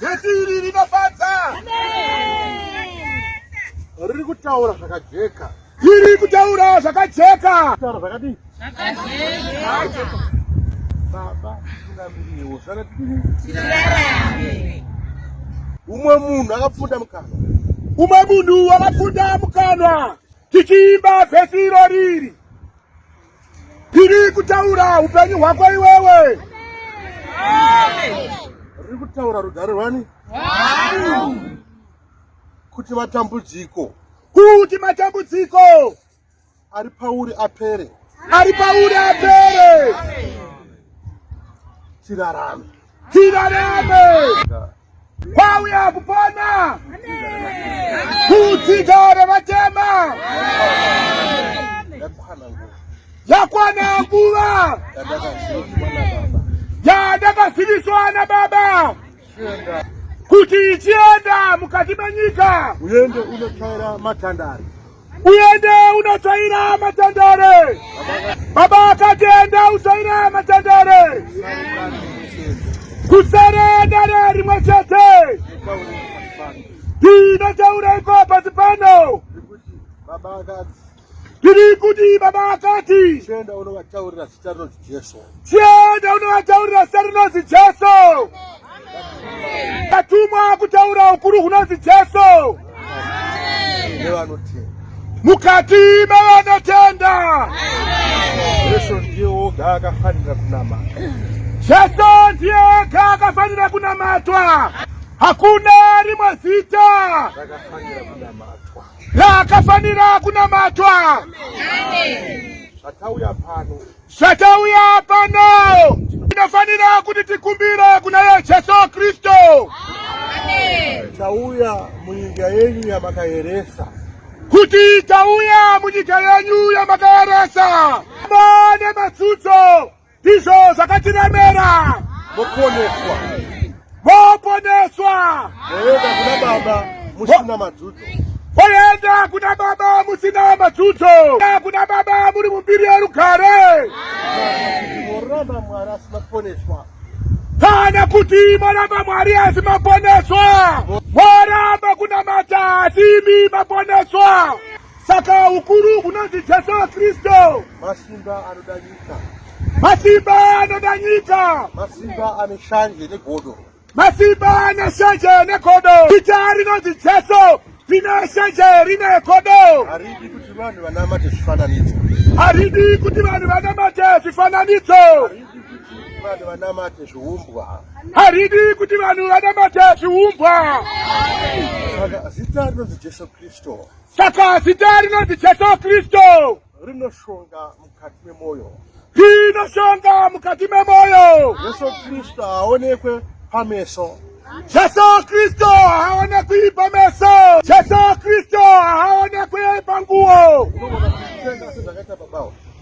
Jesu iri rinofadza. Riri kutaura zvakajeka. Riri kutaura zvakajeka. Kutaura zvakadii? Zvakajeka. Baba, tunamiriwo. Zvakadii? Tirarame. Umwe munhu akapfunda mukanwa. Umwe munhu akapfunda mukanwa. tichiimba vhesi iro riri riri kutaura upenyu hwako iwewe riri kutaura rugare rwani kuti matambudziko kuti matambudziko ari pauri apere ari pauri apere tirarame tirarame Kwauya kupona kudzidza revatema yakwana nguva yandakaziviswa naBaba kuti ichienda mukati menyika uende unochaira matandari uende unotsvaira matendere. Baba akati enda utsvaira matendere, kusere dare rimwe chete. Ndinotaura iko pasi pano, tiri kuti baba akati chienda unovataurira zita rinonzi jesu atumwa kutaura ukuru hunonzi jesu mukati mevanotenda jesu ndiye oga akafanira kunama jesu ndiye oga akafanira kunamatwa hakuna rimwe zita rakafanira kunamatwa Raakafanira kunamatwa. Zvatauya pano. Zvatauya pano. Tinofanira kuti tikumbire kuna ye Jesu Kristu. Amen. Tauya munyika yenyu yamakaeresa. Kuti tauya munyika yenyu yamakaeresa. Mane matsudzo. ndizvo zvakatiremera moponeswa moponeswa moenda kuna baba musina madzudzo moenda kuna baba musina madzudzo kuna baba muri mumbiri yerugare moramba mwari asi maponeswa kana kuti moramba mwari asi maponeswa moramba kunamata asi imi maponeswa Saka ukuru hunonzi Jesu Kristu. Masimba anoda nyika. Masimba anoda nyika. Masimba ane shanje negodo. Masimba ane shanje negodo. Ita rinonzi Jesu rine shanje rine godo. Haridi kuti vanhu vanamate zvifananidzo. Haridi kuti vanhu vanamate zvifananidzo. Haridi vanhu vanamate zviumbwa haridi kuti vanhu vanamate zviumbwa saka zita rinonzi jesu kristu Saka zita rinonzi Jesu Kristu rinoshonga mukati memoyo, rinoshonga mukati memoyo. Jesu Kristu haaonekwe pameso. Jesu Kristu haaonekwi pameso. Jesu Kristu haaonekwi panguo.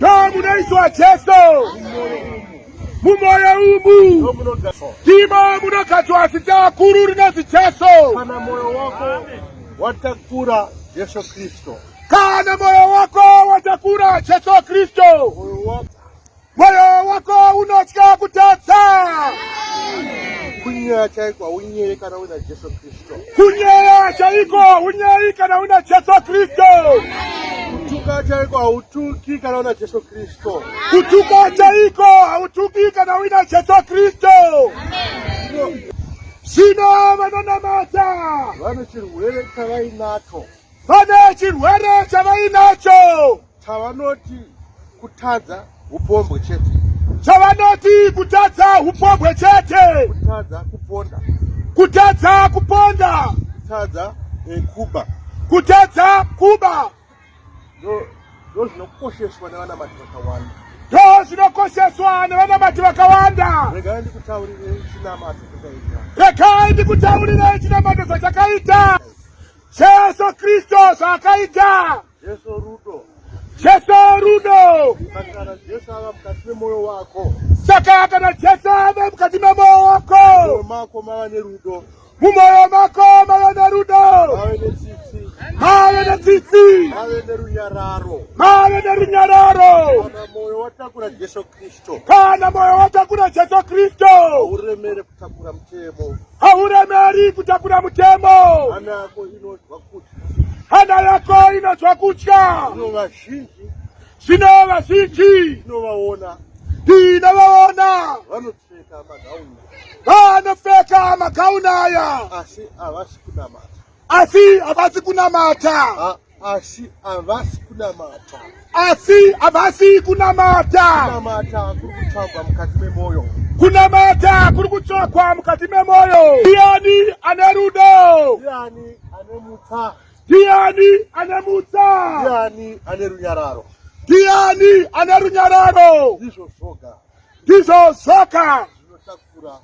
Nomunoiswa Jesu mumoyo umu ndimo munogadzwa zita guru rinonzi Jesu. Kana moyo wako watakura Jesu Kristo, kana moyo wako watakura Jesu Kristo, moyo wako unotya kutadza kunyaya chaiko haunyere kana uina Jesu Kristo. Kunyeya chaiko unyeyi kana una Jesu Kristu. Kutuka chaiko hautuki kana una Jesu Kristu. Kutuka chaiko hautuki kana una Jesu Kristu. Zvino vanonamata vane chirwere chavainacho, vane chirwere chavainacho Chavanoti kutadza upombwe chete. Chavanoti kutadza upombwe chete. Kutadza kuponda. Kutadza kuponda. Kutadza eh, kuba. Kutadza kuba. No ndozvinokosheswa nevanamati vakawanda ndozvinokosheswa nevanamati vakawanda regai ndikutaurirei chinamato chakaita regai ndikutaurirei chinamato zvachakaita jesu kristu zvaakaita Jesu rudo. Jesu rudo. Kana Jesu ava mukati memoyo wako. Saka kana Jesu ava mukati memoyo wako. Mumoyo mako mava nerudo. Mumoyo mako mava nerudo. Mave netsitsi. Mave netsitsi. Mave nerunyararo. Mave nerunyararo. Kana moyo watakura Jesu Kristo. Kana moyo watakura Jesu Kristo. Uremere Takura mutemo. Hauremeri kutakura mutemo. Hana yako inonzwa kutya. Hana yako inonzwa kutya. Zvino vazhinji. Zvino vazhinji. Tinovaona. Tinovaona. Vanopfeka magauni. Vanopfeka magauni aya. Asi havasi kunamata. Asi havasi kunamata. asi havasi kunamata asi havasi kunamata kunamata kuri kutsvagwa mukati memwoyo kunamata kuri kutsvagwa mukati memwoyo ndiani ane rudo ndiani ane mutsa ndiani ane mutsa ndiani ane runyararo ndiani ane runyararo ndizvo zvoga ndizvo zvoga zvinotakura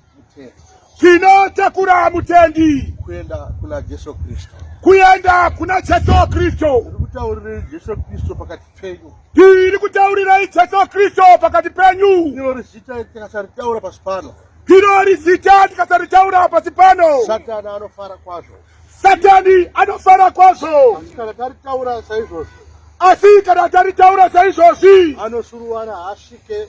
Tinotakura mutendi kuenda kuna Jesu Kristo, kuenda kuna Jesu Kristo. Ndikutaurirai Jesu Kristo pakati penyu, ndiri kutaurirai Jesu Kristo pakati penyu. Ndiro rizita tikasaritaura pasi pano, ndiro rizita tikasaritaura pasi pano. Satani anofara kwazvo, Satani anofara kwazvo, asi kana taritaura saizvozvi, asi kana taritaura saizvozvi, anosuruwara haasvike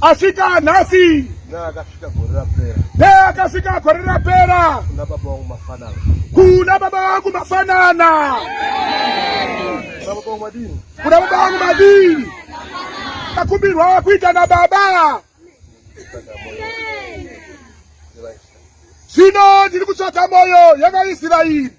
asvika nhasi neakasvika gore rapera neakasvika gore rapera kuna baba wangu mafanana kuna baba wangu mafanana kuna baba wangu madini takumbirwa kuita na baba zvino ndiri kutsvaga moyo yavaisraeri